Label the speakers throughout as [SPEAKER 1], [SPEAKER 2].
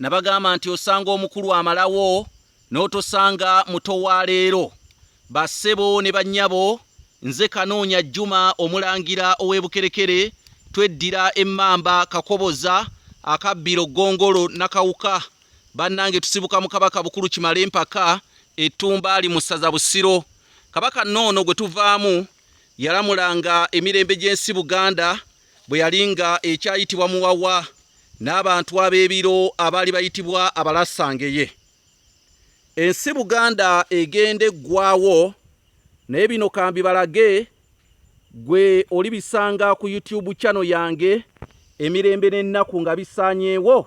[SPEAKER 1] Nabagamba nti osanga omukulu amalawo n'otosanga muto wa leero. Bassebo ne bannyabo, nze Kanoonya Juma Omulangira ow'e Bukerekere, tweddira Emmamba, Kakoboza, Akabbiro, Ggongolo, Nakawuka. Bannange tusibuka mu Kabaka Bukulu Kimalempaka e Tumbaali mu ssaza Busiro. Kabaka Nnoono gwe tuvaamu yalamulanga emirembe gy'ensi Buganda, bwe yali nga ekyayitibwa muwawa n'abantu ab'ebiro abaali bayitibwa abalasangeye ensi buganda egenda eggwawo naye bino kambi balage gwe oli bisanga ku youtube chano yange emirembe n'ennaku nga bisaanyeewo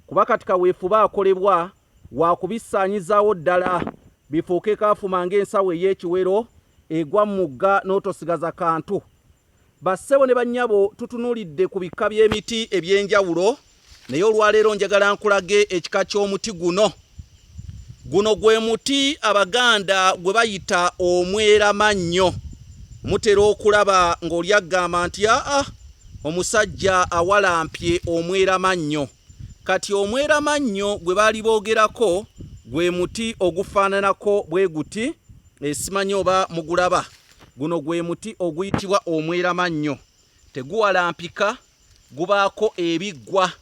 [SPEAKER 1] kuba kati kaweefuba akolebwa wakubisaanyizaawo ddala bifuuke kaafuma ng'ensawo ey'ekiwero egwa mu mugga n'otosigaza kantu Bassebo ne bannyabo tutunulidde ku bikka by'emiti eby'enjawulo naye olwaleero njagala nkulage ekika ky'omuti guno. Guno gwe muti Abaganda gwe bayita omweramannyo. Mutera okulaba ng'oli agamba nti aa omusajja awalampye omweramannyo. Kati omweramannyo gwe baali boogerako gwe muti ogufaananako bwe guti, esimanyi oba mugulaba. Guno gwe muti oguyitibwa omweramannyo, teguwalampika, gubaako ebiggwa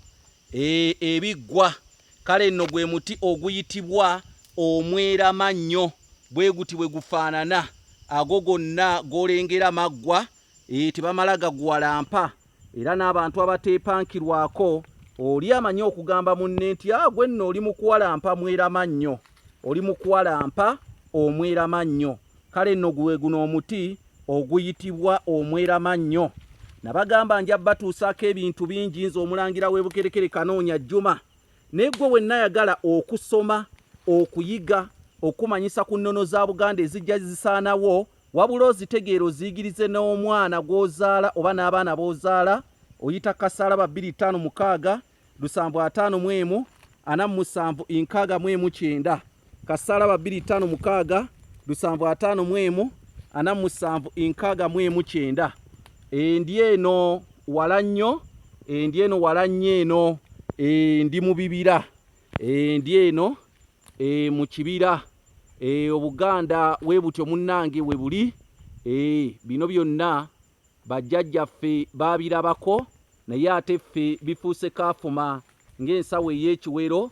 [SPEAKER 1] e, ebiggwa. Kale nno gwe muti oguyitibwa omweramannyo, bwe guti bwe gufaanana. Ago gonna golengera maggwa, e, tebamala gaguwalampa. Era n'abantu abateepankirwako, oli amanyi okugamba munne nti ah, gwe nno oli mukuwalampa mwerama nnyo, oli mukuwalampa omwerama nnyo. Kale nno guwe guno omuti oguyitibwa omwerama nnyo. Nabagamba nja batuusaako ebintu bingi nze omulangira w'ebukerekere kanoonya jjuma naye gwe wenna yagala okusoma okuyiga okumanyisa ku nnono za buganda ezijja zisaanawo Wabula ozitegeera oziyigirize n'omwana gw'ozaala oba n'abaana b'ozaala oyita kasaala ba bbiri ttaano mukaaga lusanvu ataano mu emu ana mu musanvu nkaaga mu emu kyenda kasaala ba bbiri ttaano mukaaga lusanvu ataano mu emu ana mu musanvu nkaaga mu emu kyenda endi eno wala nnyo endi eno wala nnyo eno endi mu bibira endi eno e, mu kibira e, obuganda we butyo munnange we buli e, bino byonna bajjajjaffe baabirabako naye ate ffe bifuuse kaafuma ng'ensawo ey'ekiwero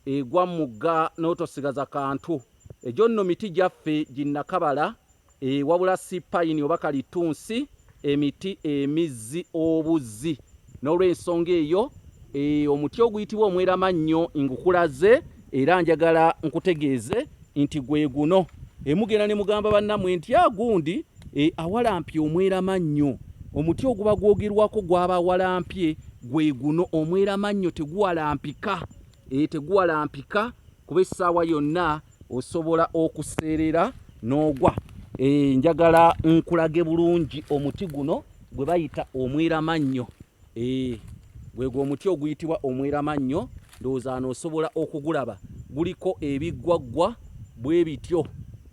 [SPEAKER 1] egwa mu mugga n'otosigaza kantu egyo nno miti gyaffe ginnakabala Eeh wabula ssi pine oba kalittunsi emiti emizzi obuzzi nolwensonga eyo eeh omuti oguyitibwa omweramannyo ngukulaze era njagala nkutegeeze nti gweguno eeh mugenda nemugamba bannamwe nti aah gundi eeh awalampye omweramannyo omuti oguba gwogerwako gwaba awalampye gweguno omweramannyo teguwalampika eeh teguwalampika kuba essaawa yonna osobola okuseerera n'ogwa eh, njagala nkulage bulungi omuti guno gwe bayita omweramannyo eh, gwegwo omuti oguyitibwa omweramannyo ndowooza no osobola okugulaba guliko ebiggwaggwa bwe bityo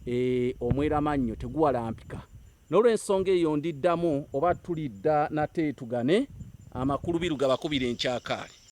[SPEAKER 1] eh, omweramannyo teguwalampika n'olwensonga eyo ndiddamu oba tulidda nate tugane amakulu biru gabakubira enkyakaali